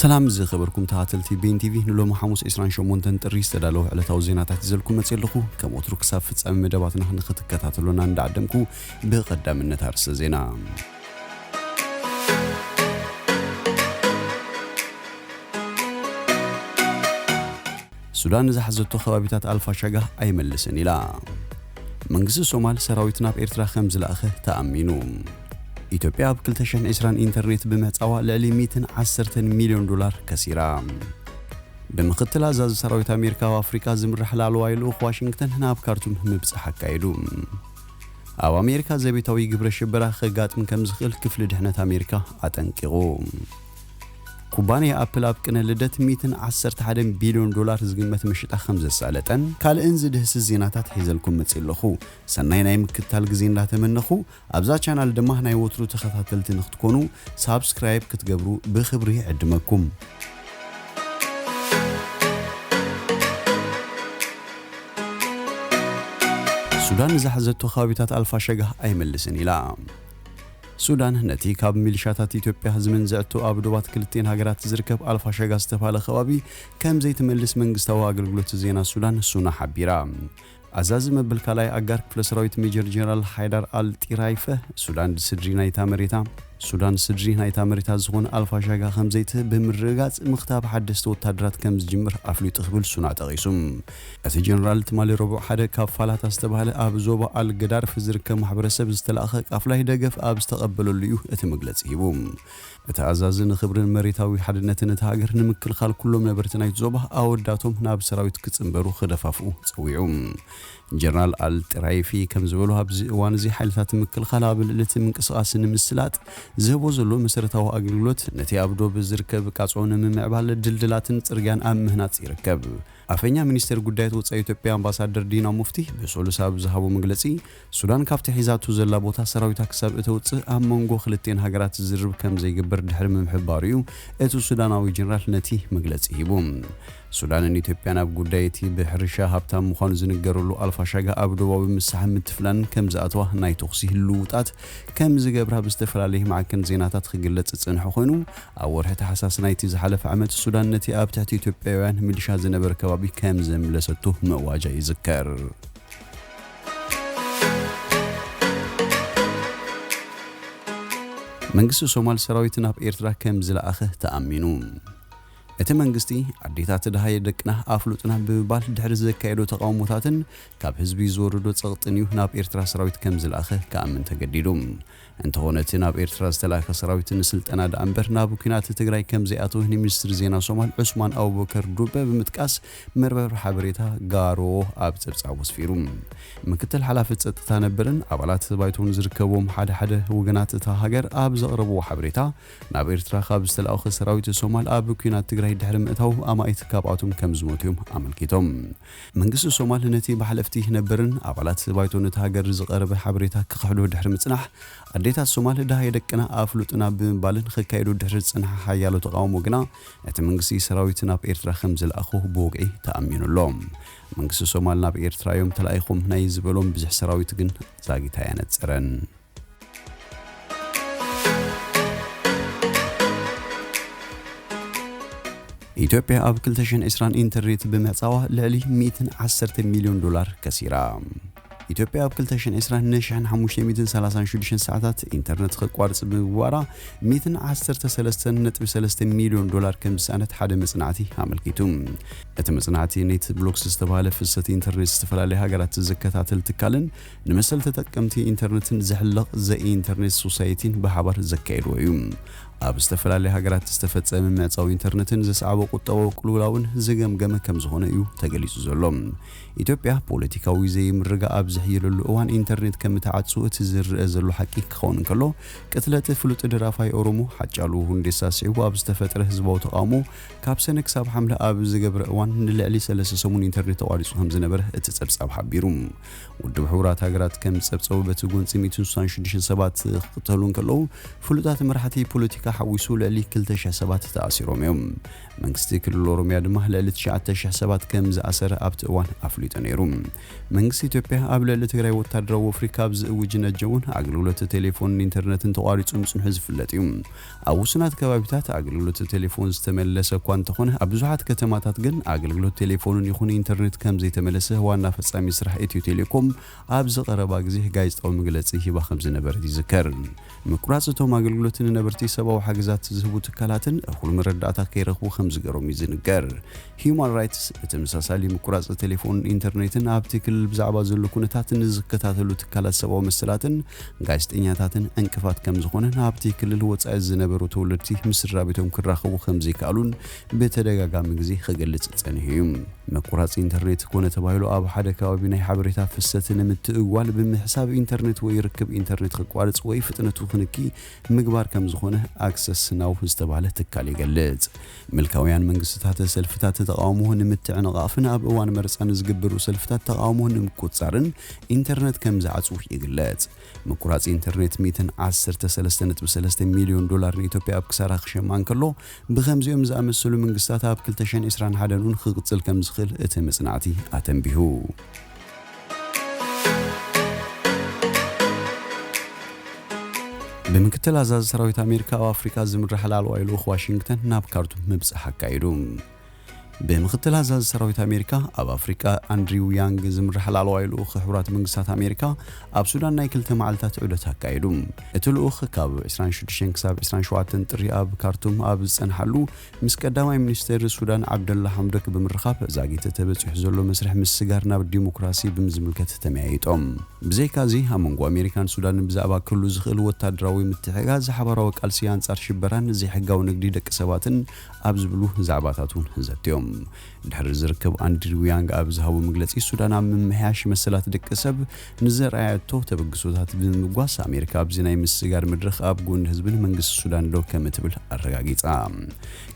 ሰላም ዝኸበርኩም ተኻተልቲ ቤን ቲቪ ንሎሚ ሓሙስ 28 ጥሪ ዝተዳለወ ዕለታዊ ዜናታት ይዘልኩም መጽ ኣለኹ ከም ወትሩ ክሳብ ፍጻሜ መደባትና ንኽትከታተሉና እንዳዓደምኩ ብቐዳምነት ኣርሰ ዜና ሱዳን ንዝሓዘቶ ከባቢታት ኣልፋሻጋህ ኣይመልስን ኢላ። መንግስቲ ሶማል ሰራዊት ናብ ኤርትራ ከምዝለኣኸ ተኣሚኑ። ኢትዮጵያ ኣብ ክልተ ሽሕን ዕስራን ኢንተርኔት ብምህጻዋ ልዕሊ ሚእትን ዓሰርተን ሚልዮን ዶላር ከሲራ። ብምኽትል ኣዛዚ ሰራዊት ኣሜሪካ ኣብ ኣፍሪቃ ዝምራሕ ላዕለዋይ ልኡኽ ዋሽንግተን ናብ ካርቱም ምብጻሕ ኣካይዱ። ኣብ ኣሜሪካ ዘቤታዊ ግብረ ሽበራ ከጋጥም ከምዝኽእል ክፍሊ ድሕነት ኣሜሪካ ኣጠንቂቑ። ኩባንያ ኣፕል ኣብ ቅነ ልደት ሚእትን ዓሰርተ ሓደን ቢልዮን ዶላር ዝግመት መሽጣ ከም ዘሳለጠን ካልእን ዝድህስስ ዜናታት ሒዘልኩም መጺእ ኣለኹ። ሰናይ ናይ ምክትታል ግዜ እንዳተመነኹ ኣብዛ ቻናል ድማ ናይ ወትሩ ተኸታተልቲ ንክትኮኑ ሳብስክራይብ ክትገብሩ ብኽብሪ ይዕድመኩም። ሱዳን ንዝሓዘቶ ከባቢታት ኣልፋሸጋህ ኣይምልስን ኢላ። ሱዳን ነቲ ካብ ሚሊሻታት ኢትዮጵያ ዝምንዝዐቶ ኣብ ዶባት ክልቲኤን ሃገራት ዝርከብ ኣልፋሸጋ ዝተብሃለ ከባቢ ከም ዘይትመልስ መንግስታዊ ኣገልግሎት ዜና ሱዳን ሱና ሓቢራ። ኣዛዚ መበል ካልኣይ ኣጋር ክፍለ ሰራዊት ሜጀር ጀነራል ሓይዳር ኣል ጢራይፈ ሱዳን ስድሪ ናይታ መሬታ ሱዳን ስድሪ ናይታ መሬታ ዝኾነ ኣልፋሻጋ ከም ዘይትህብ ብምርግጋጽ ምኽታብ ሓደስቲ ወታደራት ከም ዝጅምር ኣፍሊጡ ክብል ሱና ጠቒሱ። እቲ ጀነራል ትማሊ ረቡዕ ሓደ ካብ ፋላታ ዝተባህለ ኣብ ዞባ ኣል ገዳርፍ ዝርከብ ማሕበረሰብ ዝተላእከ ቃፍላይ ደገፍ ኣብ ዝተቐበለሉ እዩ እቲ መግለጺ ሂቡ። እቲ ኣዛዚ ንኽብርን መሬታዊ ሓድነትን እታ ሃገር ንምክልኻል ኩሎም ነበርቲ ናይቲ ዞባ ኣወዳቶም ናብ ሰራዊት ክጽንበሩ ክደፋፍኡ ጸዊዑ። ጀነራል ኣል ጢራይፊ ከም ዝበሎ ኣብዚ እዋን እዚ ሓይልታት ምክልኻል ኣብ ልዕሊ እቲ ምንቅስቓስ ንምስላጥ ዝህቦ ዘሎ መሰረታዊ ኣገልግሎት ነቲ ኣብ ዶብ ዝርከብ ቃጾ ንምምዕባል ድልድላትን ጽርግያን ኣብ ምህናጽ ይርከብ። ኣፈኛ ሚኒስቴር ጉዳያት ወፃኢ ኢትዮጵያ ኣምባሳደር ዲና ሙፍቲ ብሰሉስ ኣብ ዝሃቦ መግለፂ፣ ሱዳን ካብቲ ሒዛቶ ዘላ ቦታ ሰራዊታ ክሳብ እተውፅእ ኣብ መንጎ ክልቲኤን ሃገራት ዝርርብ ከምዘይግበር ድሕሪ ምምሕባሩ እዩ እቲ ሱዳናዊ ጀነራል ነቲ መግለፂ ሂቡ። ሱዳንን ኢትዮጵያን ኣብ ጉዳይ እቲ ብሕርሻ ሃብታም ምዃኑ ዝንገረሉ ኣልፋሻጋ ኣብ ዶባዊ ምሳሕን ምትፍናንን ከምዝኣተዋ ናይ ተኹሲ ልውውጣት ከምዝገብራ ብዝተፈላለየ ማዕከን ዜናታት ክግለፅ ዝፀንሐ ኮይኑ ኣብ ወርሒ ታሕሳስ ናይቲ ዝሓለፈ ዓመት፣ ሱዳን ነቲ ኣብ ትሕቲ ኢትዮጵያውያን ሚሊሻ ዝነበረ ከባቢ ከም ዘምለሰቶ ምእዋጃ ይዝከር። መንግስቲ ሶማል ሰራዊት ናብ ኤርትራ ከም ዝለኣኸ ተኣሚኑ። እቲ መንግስቲ ኣዴታት ደሃየ ደቅና ኣፍሉጥና ብምባል ድሕሪ ዘካየዶ ተቓውሞታትን ካብ ህዝቢ ዝወረዶ ጸቕጥን እዩ ናብ ኤርትራ ሰራዊት ከም ዝለኣኸ ክኣምን ተገዲዱ። እንተኾነ እቲ ናብ ኤርትራ ዝተላእከ ሰራዊት ንስልጠና ደኣ እምበር ናብ ኲናት ትግራይ ከምዘይኣተወ ንሚኒስትሪ ዜና ሶማል ዑስማን ኣቡበከር ዱበ ብምጥቃስ መርበብ ሓበሬታ ጋሮ ኣብ ጸብጻቡ ኣስፊሩ። ምክትል ሓላፊ ጸጥታ ነበርን ኣባላት ባይቶን ዝርከብዎም ሓደ ሓደ ወገናት እታ ሃገር ኣብ ዘቕረብዎ ሓበሬታ ናብ ኤርትራ ካብ ዝተላእኹ ሰራዊት ሶማል ኣብ ኲናት ትግራይ ድሕሪ ምእታው ኣማኢት ካብኣቶም ከምዝሞቱ'ዮም ኣመልኪቶም። መንግስቲ ሶማል ነቲ ብሓለፍቲ ነብርን ኣባላት ባይቶ'ታ ሃገር ዝቐረበ ሓበሬታ ክኽሕዶ ድሕሪ ምጽናሕ፣ ኣዴታት ሶማል ደሃይ ደቅና ኣፍሉጥና ብምባልን ኽካየዱ ድሕሪ ዝጸንሐ ሓያሎ ተቓውሞ ግና እቲ መንግስቲ ሰራዊት ናብ ኤርትራ ከምዝለኣኾ ብወግዒ ተኣሚኑ ኣሎ። መንግስቲ ሶማል ናብ ኤርትራ'ዮም ተላኢኾም ናይ ዝበሎም ብዝሒ ሰራዊት ግን ዛጊት ኣየነጸረን። ኢትዮጵያ ኣብ 2020 ኢንተርኔት ብምህጻዋ ልዕሊ 110 ሚልዮን ዶላር ከሲራ። ኢትዮጵያ ኣብ 2020 ን536 ሰዓታት ኢንተርነት ክቋርጽ ብምግባራ 113.3 ሚልዮን ዶላር ከም ዝሰኣነት ሓደ መጽናዕቲ ኣመልኪቱ። እቲ መጽናዕቲ ኔት ብሎክስ ዝተባህለ ፍሰት ኢንተርኔት ዝተፈላለያ ሃገራት ዝከታተል ትካልን ንመሰል ተጠቀምቲ ኢንተርነትን ዝሕለቕ ዘ ኢንተርኔት ሶሳይቲን ብሓባር ዘካየድዎ እዩ። ኣብ ዝተፈላለያ ሃገራት ዝተፈጸመ ምዕጻው ኢንተርነትን ዘስዓቦ ቁጠባዊ ቅልውላውን ዝገምገመ ከምዝኾነ እዩ ተገሊጹ ዘሎ። ኢትዮጵያ ፖለቲካዊ ዘይምርግጋእ ኣብ ዝሕይለሉ እዋን ኢንተርኔት ከምትዓጹ እቲ ዝርኣ ዘሎ ሓቂ ክኸውን እንከሎ፣ ቅትለት ፍሉጥ ደራፋይ ኦሮሞ ሓጫሉ ሁንዴሳ ስዒቡ ኣብ ዝተፈጥረ ህዝባዊ ተቓውሞ ካብ ሰነ ክሳብ ሓምለ ኣብ ዝገብረ እዋን ንልዕሊ ሰለስተ ሰሙን ኢንተርኔት ተቋሪጹ ከምዝነበረ እቲ ጸብጻብ ሓቢሩ። ውድብ ሕቡራት ሃገራት ከም ዝጸብጸቡ በቲ ጎንጺ ሚእቲ ስሳን ሽዱሽተን ሰባት ክቕተሉ እንከለዉ ፍሉጣት መራሕቲ ፖለቲካ ሓዊሱ ልዕሊ ክልተ ሽሕ ሰባት ተኣሲሮም እዮም። መንግስቲ ክልል ኦሮምያ ድማ ልዕሊ ትሽዓተ ሽሕ ሰባት ከም ዝኣሰረ ኣብቲ እዋን ኣፍሊጡ ነይሩ። መንግስቲ ኢትዮጵያ ኣብ ልዕሊ ትግራይ ወታደራዊ ወፍሪ ካብ ዝእውጅ ነጀውን ኣገልግሎት ቴሌፎንን ኢንተርነትን ተቋሪጹ ምጽንሑ ዝፍለጥ እዩ። ኣብ ውሱናት ከባቢታት ኣገልግሎት ቴሌፎን ዝተመለሰ እኳ እንተኾነ ኣብ ብዙሓት ከተማታት ግን ኣገልግሎት ቴሌፎንን ይኹን ኢንተርኔት ከምዘይተመለሰ ዋና ፈፃሚ ስራሕ ኢትዮ ቴሌኮም ኣብዚ ቀረባ ግዜ ጋዜጣዊ መግለፂ ሂባ ከምዝነበረት ይዝከር። ምቁራፅ እቶም ኣገልግሎት ንነበርቲ ሰብኣዊ ሓገዛት ዝህቡ ትካላትን እኹል መረዳእታ ከይረኽቡ ከምዝገሮም ይዝንገር። ሂዩማን ራይትስ ብተመሳሳሊ ምቁራጽ ቴሌፎንን ኢንተርኔትን ኣብቲ ክልል ብዛዕባ ዘሎ ኩነታት ንዝከታተሉ ትካላት ሰብኣዊ መሰላትን ጋዜጠኛታትን ዕንቅፋት ከምዝኾነን ኣብቲ ክልል ወጻኢ ዝነበሩ ተወለድቲ ምስ ስድራቤቶም ክራኸቡ ከምዘይከኣሉን ብተደጋጋሚ ግዜ ክገልጽ ጸኒሑ እዩ። ምቁራጽ ኢንተርኔት ኮነ ተባሂሉ ኣብ ሓደ ከባቢ ናይ ሓበሬታ ፍሰት ንምትእጉጓል ብምሕሳብ ኢንተርኔት ወይ ርክብ ኢንተርኔት ክቋርጽ ወይ ፍጥነቱ ክንኪ ምግባር ከምዝኾነ ኣክሰስ ናው ዝተባህለ ትካል ይገልጽ። ምልካውያን መንግስትታት ሰልፍታት ተቓውሞ ንምትዕንቓፍን ኣብ እዋን መርጻ ንዝግበሩ ሰልፍታት ተቓውሞ ንምቁጽጻርን ኢንተርነት ከም ዝዓጽዉ ይግለጽ። ምቁራጽ ኢንተርኔት ሚእትን ዓሰርተ ሰለስተ ነጥቢ ሰለስተ ሚልዮን ዶላር ንኢትዮጵያ ኣብ ክሳራ ክሸማ እንከሎ፣ ብኸምዚኦም ዝኣመሰሉ መንግስታት ኣብ ክልተ ሽሕን ዕስራን ሓደን እውን ክቕጽል ከም ዝኽእል እቲ መጽናዕቲ ኣተንቢሁ። ብምክትል ኣዛዚ ሰራዊት ኣሜሪካ ኣብ ኣፍሪካ ዝምራሕ ላዕለዋይ ልኡኽ ዋሽንግተን ናብ ካርቱም ምብጻሕ ኣካይዱ ብምክትል ኣዛዚ ሰራዊት ኣሜሪካ ኣብ ኣፍሪቃ ኣንድሪው ያንግ ዝምራሕ ላዕለዋይ ልኡኽ ሕቡራት መንግስታት ኣሜሪካ ኣብ ሱዳን ናይ ክልተ መዓልታት ዑደት ኣካየዱ እቲ ልኡኽ ካብ 26 ክሳብ 27 ጥሪ ኣብ ካርቱም ኣብ ዝጸንሓሉ ምስ ቀዳማይ ሚኒስተር ሱዳን ዓብደላ ሓምዶክ ብምርኻብ ዛጊት ተበጺሑ ዘሎ መስርሕ ምስግጋር ናብ ዲሞክራሲ ብምዝምልከት ተመያይጦም። ብዘይካ'ዚ ኣብ መንጎ ኣሜሪካን ሱዳንን ብዛዕባ ክህሉ ዝኽእል ወታደራዊ ምትሕግጋዝ፣ ሓባራዊ ቃልሲ ኣንጻር ሽበራን ዘይሕጋዊ ንግዲ ደቂ ሰባትን ኣብ ዝብሉ ዛዕባታት'ውን ዘትዮም። ድሕሪ እዚ ርክብ ኣንድሪው ያንግ ኣብ ዝሃቦ መግለጺ፣ ሱዳን ኣብ ምምሕያሽ መሰላት ደቂ ሰብ ንዘርኣየቶ ተበግሶታት ብምምጓስ፣ ኣሜሪካ ኣብዚ ናይ ምስግጋር መድረኽ ኣብ ጎኒ ህዝብን መንግስቲ ሱዳን ደው ከምትብል ኣረጋጊጻ።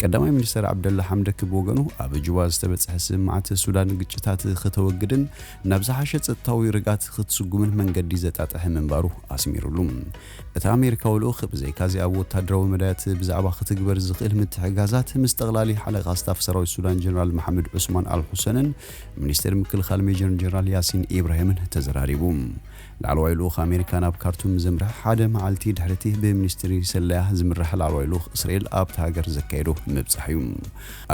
ቀዳማይ ሚኒስተር ዓብደላ ሓምደክ ብወገኑ፣ ኣብ ጁባ ዝተበጽሐ ስምምዓት ሱዳን ግጭታት ክተወግድን ናብ ዝሓሸ ጸጥታዊ ርግኣት ክትስጉምን መንገዲ ዘጣጥሐ ምንባሩ ኣስሚሩሉ። እቲ ኣሜሪካዊ ልኡኽ ብዘይካ'ዚ ኣብ ወተሃደራዊ መዳያት ብዛዕባ ክትግበር ዝኽእል ምትሕግጋዛት ምስ ጠቕላሊ ሓለቓ ስታፍ ሰራዊት ሱዳን ጀነራል መሓመድ ዑስማን ኣል ሑሰንን ሚኒስተር ምክልኻል ሜጀር ጀነራል ያሲን ኢብራሂምን ተዘራሪቡ። ላዕለዋይ ልኡኽ ኣሜሪካ ናብ ካርቱም ምዘምርሐ ሓደ መዓልቲ ድሕሪ'ቲ ብሚኒስትሪ ሰለያ ዝምራሕ ላዕለዋይ ልኡኽ እስራኤል ኣብታ ሃገር ዘካየዶ ምብጻሕ'ዩ።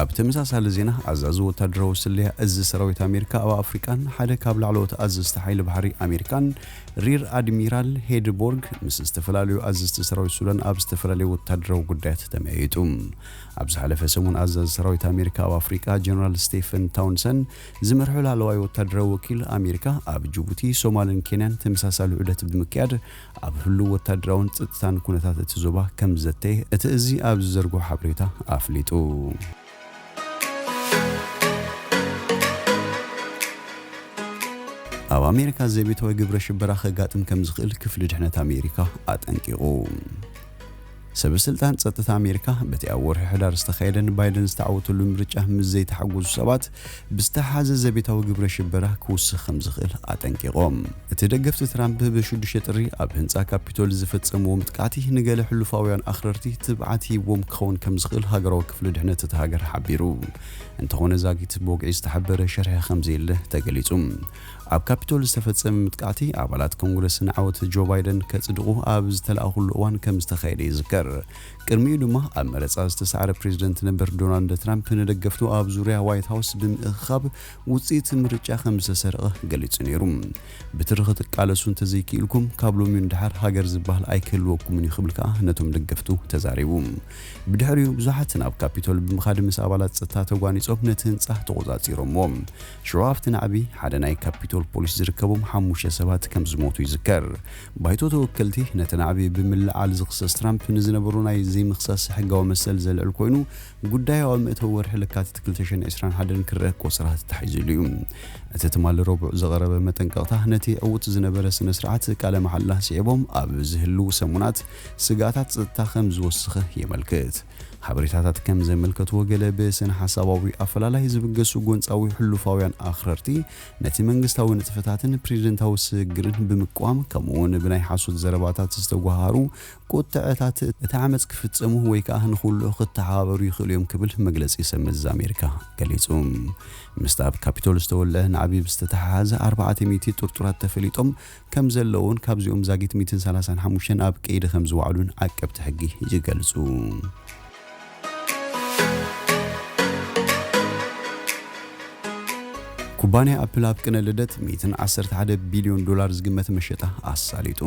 ኣብ ተመሳሳሊ ዜና፣ ኣዛዚ ወተሃደራዊ ስለያ እዚ ሰራዊት ኣሜሪካ ኣብ ኣፍሪቃን ሓደ ካብ ላዕለዎት ኣዘዝቲ ሓይሊ ባሕሪ ኣሜሪካን ሪር ኣድሚራል ሄድቦርግ ምስ ዝተፈላለዩ ኣዘዝቲ ሰራዊት ሱዳን ኣብ ዝተፈላለዩ ወተሃደራዊ ጉዳያት ተመያይጡ። ኣብ ዝሓለፈ ሰሙን ኣዛዚ ሰራዊት ኣሜሪካ ኣብ ኣፍሪቃ ጀነራል ስቴፈን ታውንሰን ዝመርሖ ላዕለዋይ ወተሃደራዊ ወኪል ኣሜሪካ ኣብ ጅቡቲ፣ ሶማልን ኬንያን ተመሳሳሊ ዑደት ብምክያድ ኣብ ህሉው ወተሃደራውን ጽጥታን ኩነታት እቲ ዞባ ከምዝዘተየ እቲ እዚ ኣብ ዝዘርግሖ ሓበሬታ ኣፍሊጡ። ኣብ ኣሜሪካ ዘቤታዊ ግብረ ሽበራ ከጋጥም ከም ዝኽእል ክፍሊ ድሕነት ኣሜሪካ ኣጠንቂቑ። ሰበ ስልጣን ጸጥታ ኣሜሪካ በቲ ኣብ ወርሒ ሕዳር ዝተኻየደን ባይደን ዝተዓወተሉ ምርጫ ምስ ዘይተሓጎሱ ሰባት ብዝተሓሓዘ ዘቤታዊ ግብረ ሽበራ ክውስኽ ከም ዝኽእል ኣጠንቂቖም። እቲ ደገፍቲ ትራምፕ ብ ሽዱሽተ ጥሪ ኣብ ህንጻ ካፒቶል ዝፈጸምዎ ምጥቃዕቲ ንገለ ሕሉፋውያን ኣኽረርቲ ትብዓት ሂብዎም ክኸውን ከም ዝኽእል ሃገራዊ ክፍሊ ድሕነት እታ ሃገር ሓቢሩ። እንተዀነ ዛጊት ብወግዒ ዝተሓበረ ሽርሒ ከም ዘየለ ተገሊጹ። ኣብ ካፒቶል ዝተፈጸመ ምጥቃዕቲ ኣባላት ኮንግረስ ንዓወት ጆ ባይደን ከጽድቑ ኣብ ዝተለኣኹሉ እዋን ከም ዝተኻየደ ይዝከር። ቅድሚኡ ድማ ኣብ መረጻ ዝተሳዕረ ፕሬዝደንት ነበር ዶናልድ ትራምፕ ንደገፍቱ ኣብ ዙርያ ዋይት ሃውስ ብምእኽኻብ ውጽኢት ምርጫ ከም ዝተሰርቐ ገሊጹ ነይሩ። ብትሪ ክትቃለሱ እንተዘይክኢልኩም ካብ ሎሚዩ ንደሓር ሃገር ዝበሃል ኣይክህልወኩምን እዩ ክብል ከኣ ነቶም ደገፍቱ ተዛሪቡ። ብድሕሪኡ ብዙሓት ናብ ካፒቶል ብምኻድ ምስ ኣባላት ጸጥታ ተጓኒጾም ነቲ ህንጻ ተቖጻጺሮምዎ። ሽዑ ኣብቲ ናዕቢ ሓደ ናይ ካፒቶል ፖሊስ ዝርከቦም ሓሙሽተ ሰባት ከም ዝሞቱ ይዝከር። ባይቶ ተወከልቲ ነቲ ናዕቢ ብምልዕዓል ዝኽሰስ ትራምፕ ንዝነበሮ ናይ ዘይምኽሳስ ሕጋዊ መሰል ዘልዕል ኮይኑ፣ ጉዳዩ ኣብ መእተዊ ወርሒ ለካቲት ክልተ ሽሕን ዕስራን ሓደን ክረኣ ክቆጽራ ተታሒዙሉ እዩ። እቲ ትማሊ ረቡዕ ዝቐረበ መጠንቀቕታ ነቲ ዕዉት ዝነበረ ስነ-ስርዓት ቃለ መሓላ ስዒቦም ኣብ ዝህልዉ ሰሙናት ስግኣታት ጸጥታ ከም ዝወስኸ የመልክት። ሓበሬታታት ከም ዘመልከትዎ ገለ ብስነ-ሓሳባዊ ኣፈላላይ ዝብገሱ ጎንጻዊ ሕሉፋውያን ኣኽረርቲ፣ ነቲ መንግስታዊ ንጥፈታትን ፕሪዚደንታዊ ስግግርን ብምቅዋም ከምኡውን ብናይ ሓሶት ዘረባታት ዝተጎሃሃሩ ቁጥዐታት እቲ ዓመጽ ክፍጽሙ ወይ ከኣ ንኹሉኡ ክተሓባበሩ ይኽእሉ እዮም ክብል መግለጺ ሰብ መዚ ኣሜሪካ ገሊጹ። ምስቲ ኣብ ካፒቶል ዝተወልዐ ናዕቢ ብዝተተሓሓዘ ኣርባዕተ ሚእቲ ጥርጡራት ተፈሊጦም ከም ዘለዉን ካብዚኦም ዛጊት ሚእትን ሰላሳን ሓሙሽተን ኣብ ቀይዲ ከም ዝወዓሉን ዓቀብቲ ሕጊ ይገልጹ። ኩባንያ ኣፕል ኣብ ቅነ ልደት ሚእትን ዓሰርተ ሓደ ቢልዮን ዶላር ዝግመት መሸጣ ኣሳሊጡ።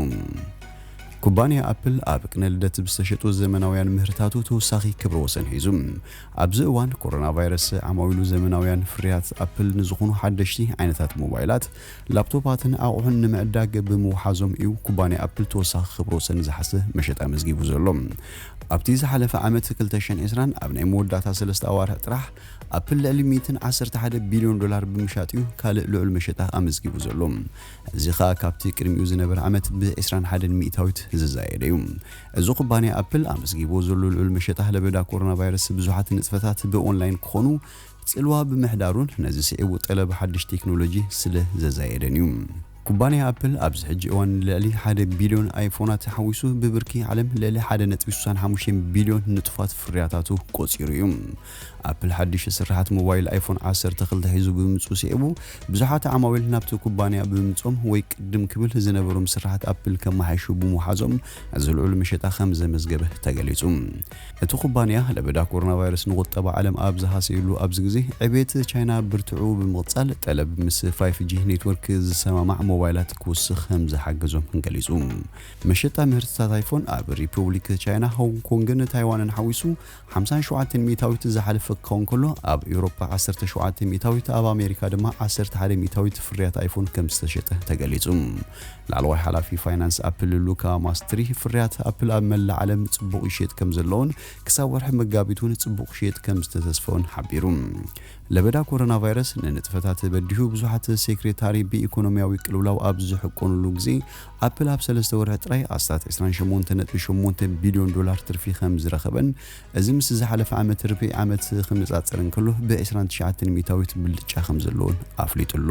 ኩባንያ ኣፕል ኣብ ቅነ ልደት ብዝተሸጡ ዘመናውያን ምህርታቱ ተወሳኺ ክብረ ወሰን ሒዙ። ኣብዚ እዋን ኮሮናቫይረስ ዓማዊሉ ዘመናውያን ፍርያት ኣፕል ንዝኾኑ ሓደሽቲ ዓይነታት ሞባይላት ላፕቶፓትን ኣቑሑን ንምዕዳግ ብምውሓዞም እዩ ኩባንያ ኣፕል ተወሳኺ ክብረ ወሰን ዝሓዘ መሸጣ ኣመዝጊቡ ዘሎ። ኣብቲ ዝሓለፈ ዓመት ክልተ ሽሕን ዕስራን ኣብ ናይ መወዳእታ ሰለስተ ኣዋርሕ ጥራሕ ኣፕል ልዕሊ ሚእትን ዓሰርተ ሓደ ቢልዮን ዶላር ብምሻጥ እዩ ካልእ ልዑል መሸጣ ኣመዝጊቡ ዘሎ። እዚ ከኣ ካብቲ ቅድሚኡ ዝነበረ ዓመት ብ ዕስራን ሓደን ሚእታዊት ዝዛየደ እዩ። እዚ ኩባንያ ኣፕል ኣመዝጊብዎ ዘሎ ልዑል መሸጣ ለበዳ ኮሮናቫይረስ ብዙሓት ንጥፈታት ብኦንላይን ክኾኑ ጽልዋ ብምሕዳሩን ነዚ ስዒቡ ጠለብ ሓድሽ ቴክኖሎጂ ስለ ዘዛየደን እዩ። ኩባንያ ኣፕል ኣብዚ ሕጂ እዋን ንልዕሊ ሓደ ቢልዮን ኣይፎናት ሓዊሱ ብብርኪ ዓለም ልዕሊ ሓደ ነጥቢ ስሳን ሓሙሽተን ቢልዮን ንጡፋት ፍርያታቱ ቆጺሩ እዩ። ኣፕል ሓድሽ ስርሓት ሞባይል ኣይፎን ዓሰርተ ክልተ ሒዙ ብምምጽኡ ስዒቡ ብዙሓት ዓማዊል ናብቲ ኩባንያ ብምምጽኦም ወይ ቅድም ክብል ዝነበሮም ስርሓት ኣፕል ከመሓይሹ ብምውሓዞም እዚ ልዑል መሸጣ ከም ዘመዝገበ ተገሊጹ። እቲ ኩባንያ ለበዳ ኮሮናቫይረስ ንቑጠባ ዓለም ኣብ ዝሃሰየሉ ኣብዚ ግዜ፣ ዕቤት ቻይና ብርትዑ ብምቕጻል፣ ጠለብ ምስ ፋይፍ ጂ ኔትወርክ ዝሰማማዕ ሞባይላት ክውስኽ ከምዝሓገዞ ገሊጹ። መሸጣ ምህርትታት ኣይፎን ኣብ ሪፑብሊክ ቻይና፣ ሆንግ ኮንግን ታይዋንን ሓዊሱ ሓምሳን ሸውዓተን ሚእታዊት ዝሓለፈ ክኸውን ከሎ፣ ኣብ ኤውሮጳ ዓሰርተ ሸውዓተ ሚእታዊት፣ ኣብ ኣሜሪካ ድማ ዓሰርተ ሓደ ሚእታዊት ፍርያት ኣይፎን ከምዝተሸጠ ተገሊጹ። ላዕለዋይ ሓላፊ ፋይናንስ ኣፕል ሉካ ማስትሪ፣ ፍርያት ኣፕል ኣብ መላእ ዓለም ጽቡቕ ይሽየጥ ከምዘሎን ክሳብ ወርሒ መጋቢት እውን ጽቡቕ ክሽየጥ ከምዝተተስፈኦን ሓቢሩ። ለበዳ ኮሮናቫይረስ ንንጥፈታት በዲሁ ብዙሓት ሴክሬታሪ ብኢኮኖሚያዊ ቅልውላው ኣብ ዝሕቆኑሉ ግዜ ኣፕል ኣብ ሰለስተ ወርሒ ጥራይ ኣስታት ዕስራን ሸሞንተ ነጥቢ ሸሞንተ ቢልዮን ዶላር ትርፊ ከምዝረኸበን እዚ ምስ ዝሓለፈ ዓመት ርብዒ ዓመት ክነጻጸር እንከሎ ብዕስራን ትሽዓተን ሚእታዊት ብልጫ ከምዘለዎን ኣፍሊጡ ኣሎ።